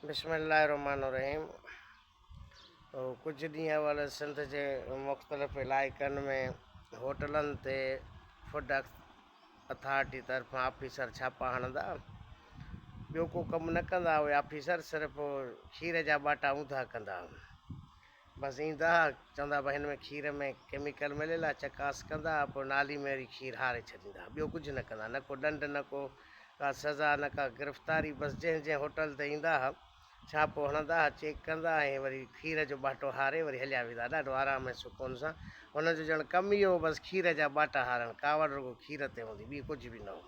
بسم الله الرحمن الرحيم ڪجهه ڏينهن اول سنڌ جي مختلف علائقن ۾ هوٽلن تي فوڊ اٿارٽي طرفان آفيسر ڇاپا هڻندا ٻيو ڪو ڪم نه ڪندا اهي آفيسر صرف کير جا ٻاٽا اونڌا ڪندا بس ايندا ھئا چوندا ھئا ھن ۾ کير ۾ ڪيميڪل مليل آھي چڪاس ڪندا ھئا پوء نالي ۾ وري کير ھاري ڇڏيندا ھئا ٻيو ڪجھ نه ڪندا نه ڪو ڏنڊ نه ڪو ڪا سزا نه ڪا گرفتاري بس جنھن جنھن ھوٽل تي ايندا ھئا ڇاپو ھڻندا ھئا چيڪ ڪندا ھئا ۽ وري کير جو ٻاٽو ھاري وري ھليا ويندا ھئا ڏاڍو آرام ۽ سڪون سان ھنن جو ڄڻ ڪم ئي ھو بس کير جا ٻاٽا ھارڻ ڪاوڙ رڳو کير تي ھوندي ٻي ڪجھ به نه ھو.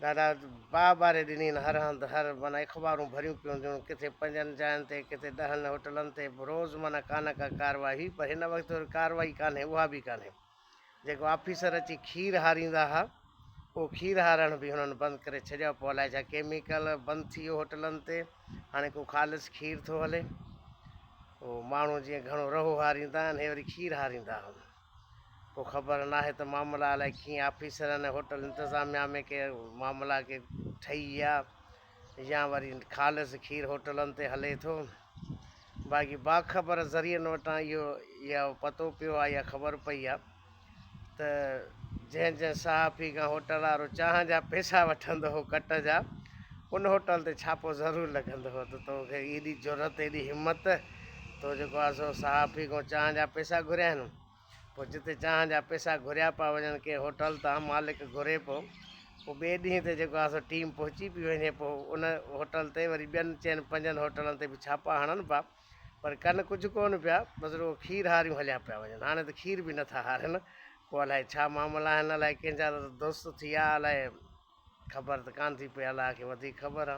دادا باء ٻاري ڏنين، هر هنڌ هر معنيٰ اخبارون ڀريون پيون هونديون، ڪٿي پنجن جاين تي، ڪٿي ڏهن هوٽلن تي، روز معنيٰ ڪا نه ڪا ڪارروائي، پر هن وقت وري ڪارروائي ڪانهي، اها به ڪانهي. جيڪو آفيسر اچي کير هاريندا ها، اهو کير هارڻ به هنن بند ڪري ڇڏيو، پوء الائي ڇا ڪيميڪل بند ٿي ويو هوٽلن تي، هاڻي ڪو خالص کير ٿو هلي. اهو ماڻهو جيئن گهڻو رهو هاريندا آهن، هي وري کير هاريندا هئا. ڪو خبر ناهي ته معاملا الائي ڪئين آفيسرن ۽ هوٽل انتظاميا ۾ ڪي معاملا ڪي ٺهي ويا يا وري خالص کير هوٽلن تي هلي ٿو. باقي باخبر ذريعن وٽان اهو يا پتو پيو آ يا خبر پئي آ ته جنهن جنهن صحافي کان هوٽل وارو چانهن جا پئسا وٺندو هو ڪٽ جا ان هوٽل تي ڇاپو ضرور لڳندو هو ته تو کي ايڏي جرئت ايڏي همت تو جيڪو آ سو صحافي کان چانهه جا پئسا گهريا آهن. پوء جتي چانهه جا پئسا گهريا پيا وڃن، ڪي هوٽل تان مالڪ گهري پيو، پوء ٻئي ڏينهن تي جيڪو آ سو ٽيم پهچي پئي وڃي، پوء ان هوٽل تي وري ٻين چئن پنجن هوٽلن تي به ڇاپا هڻن پيا، پر ڪن ڪجهه ڪونه پيا، بس رڳو کير هاريون هليا پيا وڃن. هاڻي ته کير به نٿا هارين، پوء الائي ڇا معاملا آهن، الائي ڪنهن جا ته دوست ٿي آ، الائي خبر ته ڪانه ٿي پئي، الله کي وڌيڪ خبر آ.